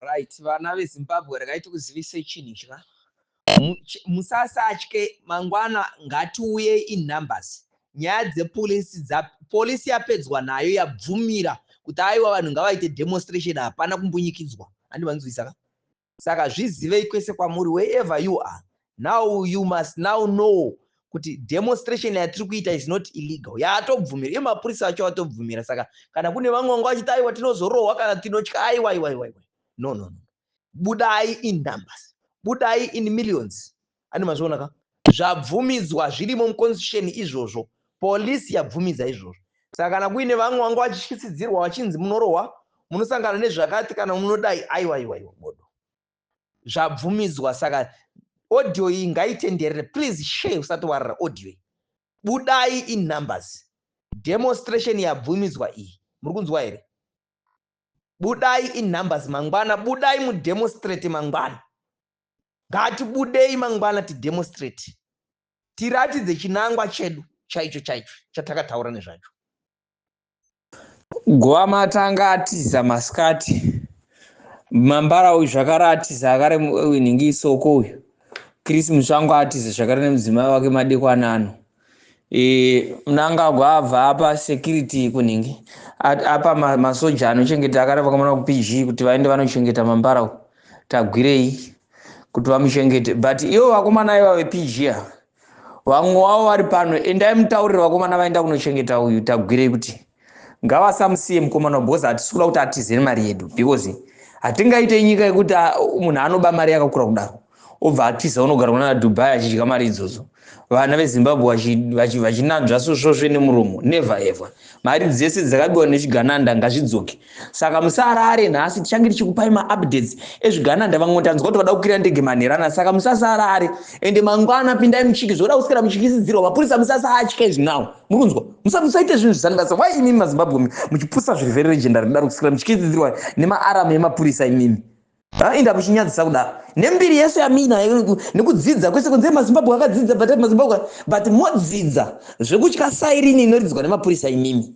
Right vana vezimbabwe regai tikuzivise chinhu chka musasatye mangwana ngatiuye in numbers nyaya dzepolisi dza polisi yapedzwa nayo yabvumira kuti aiwa vanhu ngavaite demonstration hapana kumbunyikidzwa handi vanzwisaka saka zvizivei kwese kwamuri wherever you are now you must now know kuti demonstration yatiri kuita is not illegal yaatobvumira iye mapurisa acho atobvumira saka kana kune vamwe vanga vachiti aiwa tinozorohwa kana tinotya aiwa iwa iwa iwa no no no budai in numbers budai in millions ani mazviona ka zvabvumidzwa zvirimo muconstitution izvozvo polisi yabvumidza izvozvo saka kana kuine vamwe vanga vachityisidzirwa vachinzi munorohwa munosangana nezvakati kana munodai aiwa iwa iwa bodo zvabvumidzwa saka audio iyi ngaitenderere please share usati warara audio iyi budai in numbers demonstration yabvumidzwa iyi muri kunzwa here budai in numbers mangwana budai mudemonstrate mangwana ngatibudei mangwana tidemonstrate tiratidze chinangwa chedu chaicho chaicho chatakataura nezvacho Gwama atanga atiza masikati mambara uyu zvakare atiza akare winhingi isoko uyu Chris Mutsvango atiza zvakare nemudzimai wake madekwana ano e, Mnangagwa abva apa security kunhingi apa masoja anochengeta akare vakamona kuPG kuti vaende vanochengeta mambara uyu tagwirei kuti vamuchengete but ivo vakomana iva vePG ava vamwe wavo vari pano endai mutaurire vakomana vaenda kunochengeta uyu tagwirei kuti ngavasamusiye mukomana because hatisi kuda kuti atize nemari yedu because hatingaite nyika yekuti ah, munhu anoba mari yakakura kudaro obva atiza unogara kunana dubai achidya mari idzodzo vana vezimbabwe vachinanzva sosvosve nemuromo never ever mari dzese dzakabiwa nechigananda ngazvidzoke saka musarare nhasi tichange tichikupai maupdates ezvigananda vamwe tanzwa kuti vada kukwira ndege manherana saka musasarare ende mangwana pindai muchiki zvoda kuswera muchikisidzirwa mapurisa musasatye izvi now muri kunzwa musaite zvinhu zvisani basa why imimi mazimbabwe muchipusa zviri very legendary kudaro kuswera muchikisidzirwa nemaaram emapurisa imimi inda muchinyadzisa kudaro nembiri yese yamina nekudzidza kwese kunze mazimbabwe akadzidza but mazimbabwe but modzidza zvekutya sairini inoridzwa nemapurisa imimi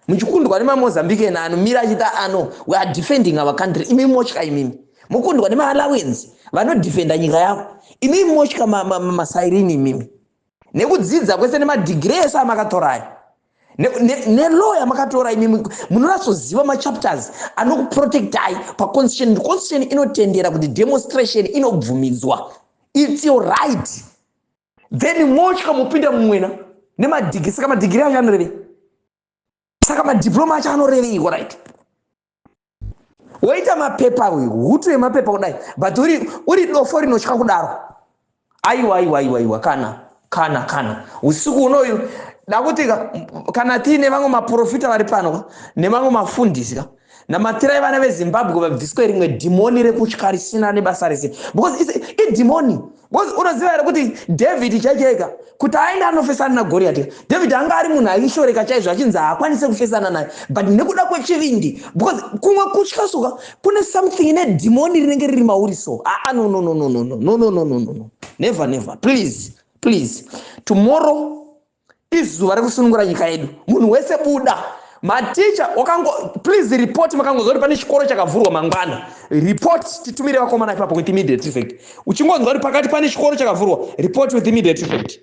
muchikundwa nemamozambican ano mira achita ano we are defending our country imimi motya imimi mokundwa nemaalawens vanodefenda nyika yavo imimi motya masairini imimi nekudzidza kwese nemadhigiri ese amakatorayo nelow yamakatora imimi munoratsoziva machapters anokuprotectai paconstitution ndi constitution inotendera kuti demonstration inobvumidzwa its your right then motya mopinda mumwena nemadhigiri saka madhigiri acho anorevei saka madiploma acho anorevei orit woita mapepa uyu hutu yemapepa kudai but uri, uri dofo rinotya kudaro aiwa aiwa aiwa aiwa kana kana kana usiku unoyu dakuti kana tiine vamwe maprofita vari pano nemamwe mafundisi ka namatirai vana vezimbabwe vabviswe rimwe dhimoni rekutya risina nebasa rese because idhimoni because unoziva here kuti david chaichaika kuti aende anofesana nagoriyati david anga ari munhu aishoreka chaizvo achinzi haakwanise kufesana naye but nekuda kwechivindi because kumwe kutya suka kune something ine dhimoni rinenge riri mauri so aa ah, ah, no no no no no no no no no no no never never please please tomorrow izuva rekusunungura nyika yedu munhu wese buda maticha wakango please report makangonzwa kuti pane chikoro chakavhurwa mangwana report titumire vakomana ipapo with immediate effect uchingonzwa kuti pakati pane chikoro chakavhurwa report with immediate effect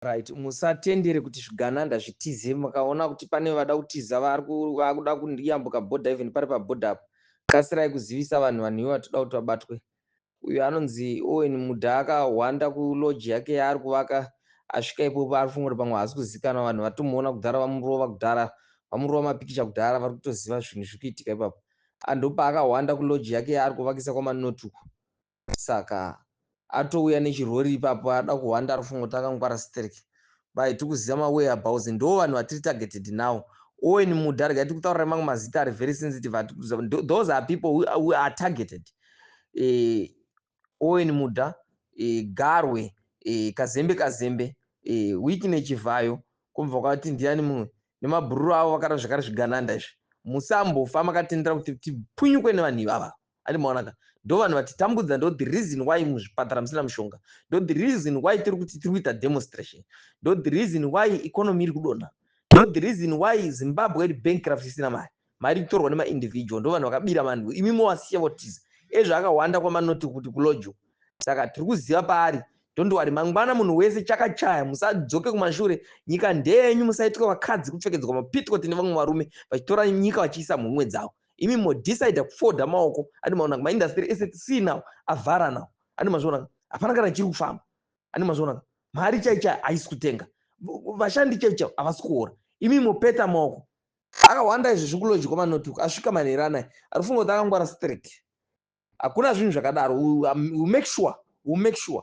right musatendere kuti zvigananda zvitize mukaona kuti pane vada kutiza vakuda kuyambuka border even pari paborder apo kasirai kuzivisa vanhu vanhu ivo vatoda kuti vabatwe Uyu anonzi Owen Mudhaka ahwanda kulodge yake yaari kuvaka asvika ipopo ari kufunga kuti pamwe haasi kuzikanwa vanhu vatomuona kudhara vamurova kudhara vamurova mapikicha kudhara vari kutoziva zvinhu zviri kuitika ipapo ah, ndopaakahwanda kulodge yake yaari kuvakisa kwamanoti uko saka atouya nechirori ipapo ada kuhwanda ari kufunga kuti akangwara sterek Bye tikuziva ma where abouts ndo vanhu vatiri targeted now Owen Muda regai tikutaurira mamwe mazita ari very sensitive those are people who, who are targeted eh, Owen Muda eh, Garwe eh, Kazembe Kazembe eh, Weekne Chivhayo kumva kwati ndiani mumwe nemabhururu avo vakara zvakare zvigananda izvi musambofa makatendera kuti tipunyukwe nevanhu ivava ati maonaka ndo vanhu vatitambudza ndo the reason why muzvipatara musina mushonga ndo the reason why tiri kuti tiri kuita demonstration ndo the reason why economy iri kudonha ndo the reason why zimbabwe iri bankrupt isina mari Mari ikutorwa nema individual ndovanhu vakabira vanhu imi mowasiya votiza ezvo akahwanda kwamanoti kuti kulojo saka tirikuziva paari don't worry mangwana munhu wese chakachaya musadzoke kumashure nyika ndeyenyu musaitwe vakadzi kupfekedzwa mapitcot nevamwe varume vachitora nyika vachiisa mhumwe dzavo imi modecide kufoda maoko andi maona kuma industry ese see now avhara now andi mazviona hapana kana chiri kufamba andi mazviona mari chaichaya haisi kutenga vashandi chaichaya havasi kuora imi mopeta maoko Akahwanda izvi zvikulodge kwa manoti uku asvika manheru anaya arikufunga kuti akangwara sterek hakuna zvinhu zvakadaro u make sure u make sure.